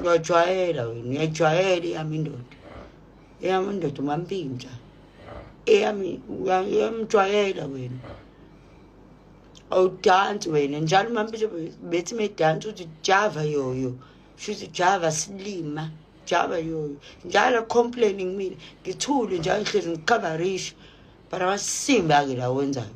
uyajwayela wena uyajwayela eyami indoda eyami indoda umampintsha eyami uyamjwayela wena awudansi wena njalo umampintsha bethi medansi uthi java yoyo shuthi java silima java yoyo njalo complaining mina ngithule njalo ngihlezi ngikhabarisha but amasimbi ake la wenzayo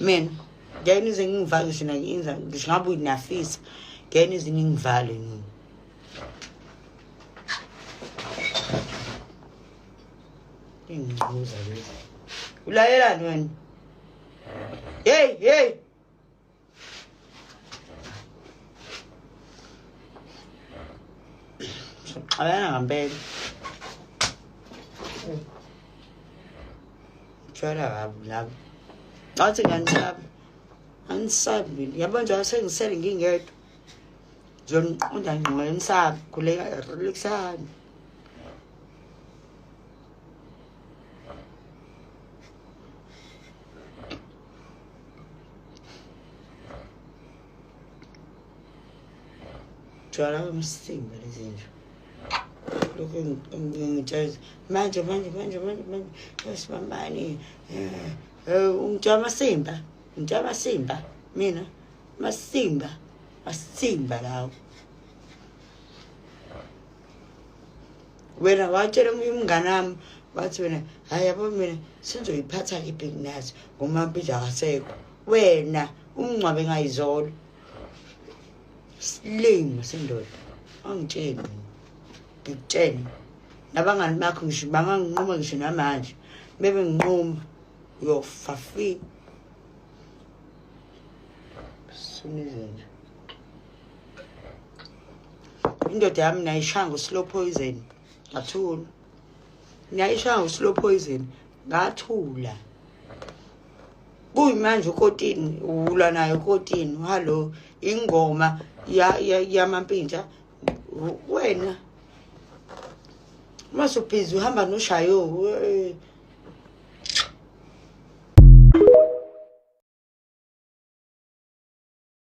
mina ngeke nize ngingivale sina nginza ngisho ngabe uyinafisa ngeke nize ningivale nini ingquza lezi ulalelani wena hey hey Xabana ngampela. Tshwala kabi labo. Ngathi ngiyanisaba. Angisabi. Yabo njalo sengisele ngingedwa. Ngizoniqonda ngqondo ngisabi khuleka relaxani. Tshwala umsinga lezi nje. Lokhu ngitshela manje manje manje manje manje sibambani. Eh, eh, ungitshwala amasimba. Ngitshwala amasimba mina. Masimba. Masimba lawo. wena watshela omunye umngane wami wathi wena hhayi yabo mina sengizoyiphatha kiphi nginazi ngomampilo akasekho wena umngcwabe ngayizolo silima sendoda angitsheni ngikutsheni nabangani bakho ngisho banganginquma ngisho namanje bebe nginquma uyofa fi sunizenje indoda yami nayishaya ngo-slow poison ngathula nayishaya ngo-slow poison ngathula kuyimanje ukotini ulwa naye ukotini hallo ingoma yamampintsha wena uma subhizi uhamba noshayo